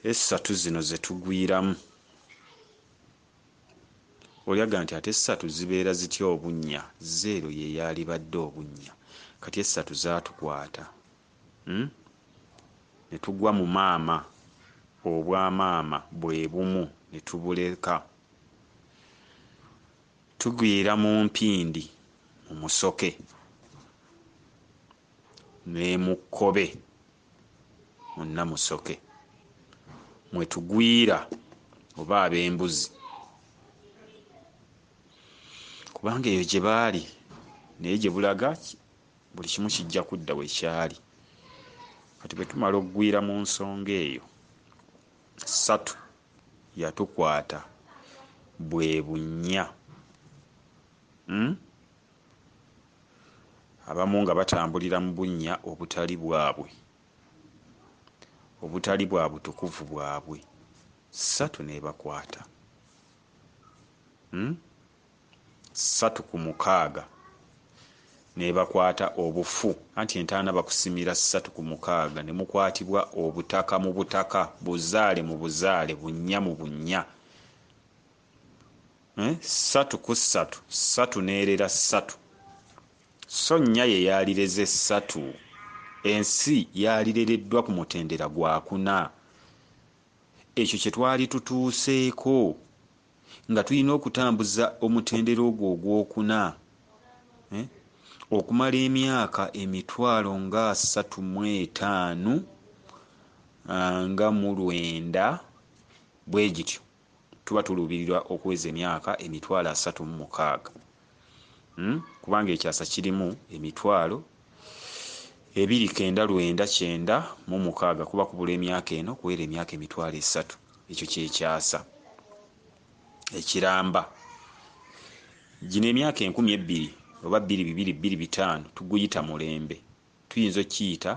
essatu zino zetugwiramu olyaga nti ate essatu zibeera zitya obunnya zeero yeyaalibadde obunnya kati essatu zatukwata hmm? ne tugwa mu maama obwamaama bwe bumu ne tubuleka tugwira mu mpindi mu musoke nemu kkobe munna musoke mwetugwira oba ab'embuzi kubanga eyo gye baali naye gye bulaga buli kimu kijja kudda we kyali kati bwe tumala okugwira mu nsonga eyo ssatu yatukwata bwe bunnya hmm? abamu nga batambulira mu bunnya obutali bwabwe obutali bwa butukuvu bwabwe ssatu n'ebakwata hmm? ssatu ku mukaaga nebakwata obufu anti entaana bakusimira ssatu ku mukaaga ne mukwatibwa obutaka mu butaka buzaale mu buzaale bunnya mu bunnya eh, ssatu ku ssatu ssatu n'erera ssatu so nnya ye yaalireze ssatu ensi yaalirereddwa ku mutendera gwakuna ekyo kye twali tutuuseeko nga tulina okutambuza omutendera ogwo ogwokuna eh, okumala emyaka emitwalo nga asatu mu etaano ah, nga mu lwenda bwe gityo tuba tuluubirirwa okuweza emyaka emitwalo asatu mu mukaaga hmm? kubanga ekyasa kirimu emitwalo ebiri kenda lwenda kyenda mu mukaaga kuba kubula emyaka eno kuwera emyaka emitwalo esatu ekyo kyekyasa ekiramba gino emyaka enkumi ebbiri oba bbiri bibiri bbiri bitaano tuguyita mulembe tuyinza okukiyita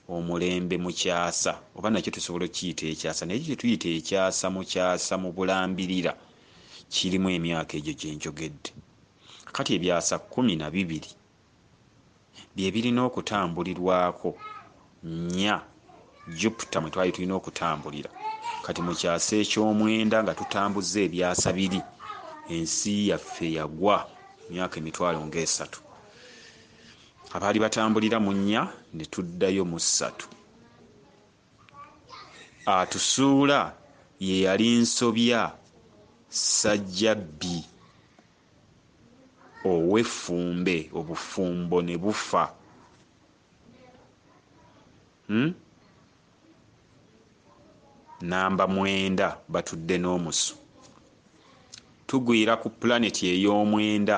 omulembe mu kyasa oba nakyo tusobola okukiyita ekyasa naye ekyo kye tuyita ekyasa mu kyasa mu bulambirira kirimu emyaka egyo gye njogedde kati ebyasa kkumi na bibiri bye birina okutambulirwako nnya jupiter mwe twali tulina okutambulira kati mu kyasa eky'omwenda nga tutambuzza ebyasa biri ensi yaffe yagwa myaka emitwalo ng'esatu abaali batambulira mu nnya ne tuddayo mu ssatu atusuula ye yali nsobya ssajjabbi ow'effumbe obufumbo ne bufa hmm? namba mwenda batudde n'omusu tugwira ku pulaneti ey'omwenda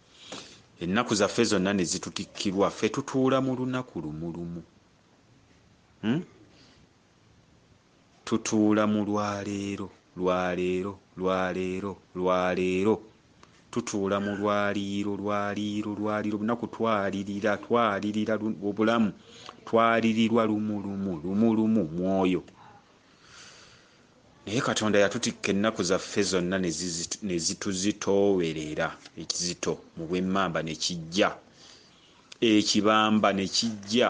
Ennaku zaffe zonna ne zitutikkirwa, ffe tutuula mu lunaku lumu lumu. Hmm? Tutuula mu lwaleero, lwaleero, lwaleero, lwaleero. Tutuula mu lwaliiro, lwaliiro, lwaliiro. Bunaku twalirira, twalirira obulamu. Twalirirwa lumu lumu, lumu lumu, mwoyo. naye katonda yatutikka ennaku zaffe zonna ne zituzitoowerera ekizito mu bwemmamba ne kijja ekibamba ne kijja